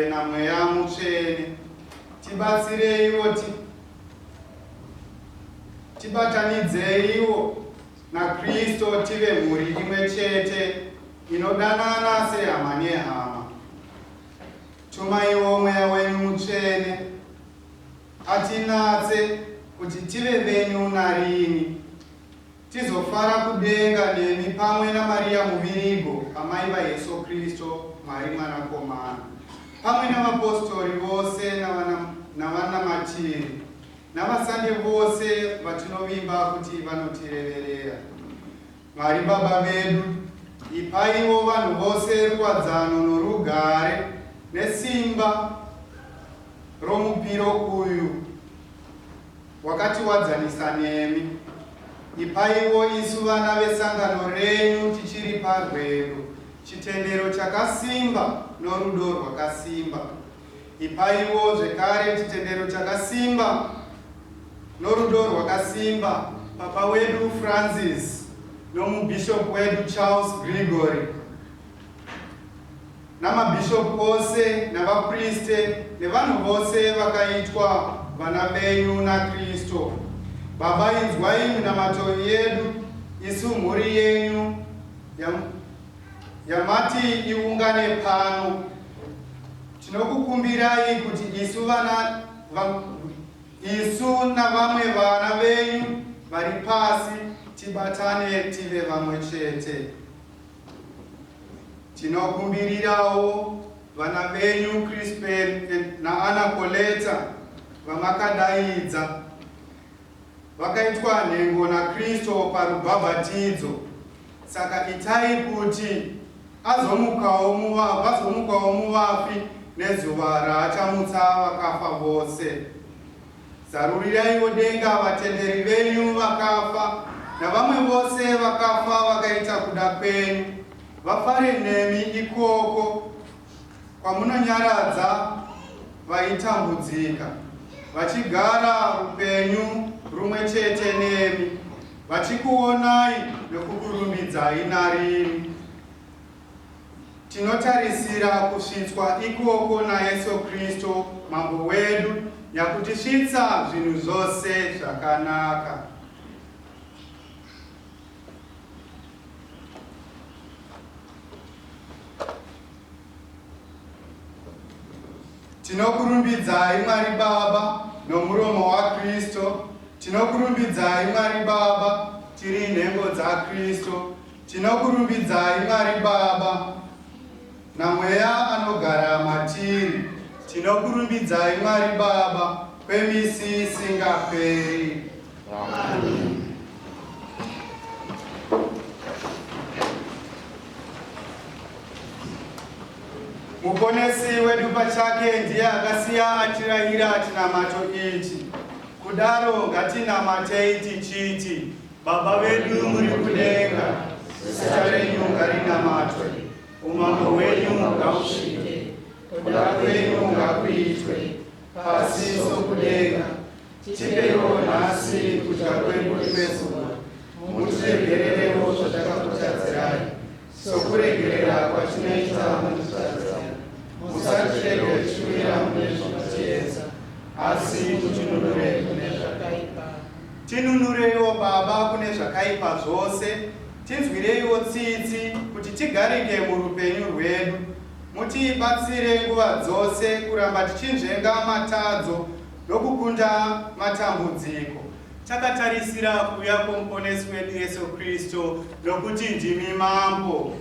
Tena mweya mutsvene tibatsireiwo ti, tibatanidzeiwo naKristo tive mhuri imwe chete inodanana sehama nehama. Tumaiwo mweya wenyu mutsvene atinatse kuti tive venyu narini. Tizofara kudenga nemi pamwe naMariya Muvirigo, amai vaYesu Kristo, Mwari Mwanakomana, pamwe navapostori vose navana, navanamatiri navasande vose vatinovimba kuti vanotireverera. Mwari Baba vedu, ipaiwo vanhu vose ruwadzano norugare nesimba romupiro uyu wakatiwadzanisa nemi. Ipaiwo isu vana vesangano renyu tichiri parwendo chitendero chakasimba norudo rwakasimba. Ipaiwo zvekare chitendero chakasimba norudo rwakasimba Papa wedu Francis nomubhishopu wedu Charles Gregory. namabhishopu ose navapriste nevanhu vose vakaitwa vana venyu naKristo. Baba, inzwai minamato yedu isu mhuri yenyu yam, yamati iungane pano. Tinokukumbirai kuti isu vana va, isu navamwe vana venyu vari pasi tibatane tive vamwe chete. Tinokumbirirawo vana venyu Crispel naAnna Coletta vamakadaidza vakaitwa nhengo naKristo parubhabhatidzo. Saka itai kuti azomukawo muva, vazomukawo muvafi nezuva raachamutsa vakafa vose. Zaruriraiwo denga vatenderi venyu vakafa navamwe vose vakafa vakaita kuda kwenyu, vafare nemi ikoko kwamunonyaradza vaitambudzika, vachigara upenyu rumwe chete nemi, vachikuonai nokukurumbidzai narini. Tinotarisira kusvitswa ikoko naYesu Kristu Mambo wedu nyakutisvitsa zvinhu zvose zvakanaka. Tinokurumbidzai Mwari Baba nomuromo waKristu, tinokurumbidzai Mwari Baba tiri nhengo dzaKristu. Tinokurumbidzai Mwari Baba naMweya anogara matiri. Tinokurumbidzai Mwari Baba kwemisi isingaperi. Amen. Muponesi wedu pachake ndiye akasiya atirayira chinamato ichi. Kudaro ngatinamatei tichiti Baba vedu muri kudenga, zita renyu ngarinamatwe, umambo hwenyu ngausvike, kuda kwenyu ngakuitwe, pasi sokudenga. Tipeiwo nhasi kudya kwedu kwezuva, mutiregererewo zvatakakutadzirai, Sokuregerera kwatinoita vanotitadzira, musatirege tichiwira mune zvinotiedza, asi mutinunurei kune zvakaipa. Tinunureiwo Baba kune zvakaipa zvose, tinzwireiwo tsitsi kuti tigarike murupenyu rwedu. Mutibatsire nguva dzose kuramba tichinzvenga matadzo nokukunda matambudziko. Takatarisira kuuya kwoMuponesi wedu Yesu Kristu, nokuti ndimi Mambo.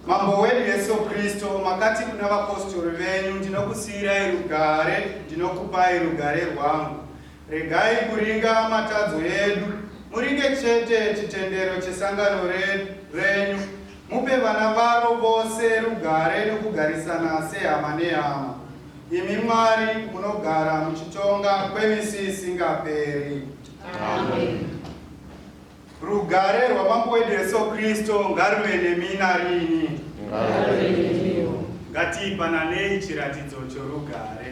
Mambo wedu Yesu Kristu, makati kuna vapostori venyu, ndinokusiyirai rugare, ndinokupai rugare rwangu. Regai kuringa matadzo edu, muringe chete chitendero chesangano re- renyu, Mupe vana varo vose rugare nokugarisana sehama nehama. Imi Mwari munogara muchitonga kwemisi isingaperi. Amen. Rugare rwaMambo wedu Jesu Kristu ngaruve nemi narini. Ngatiipananei chiratidzo chorugare.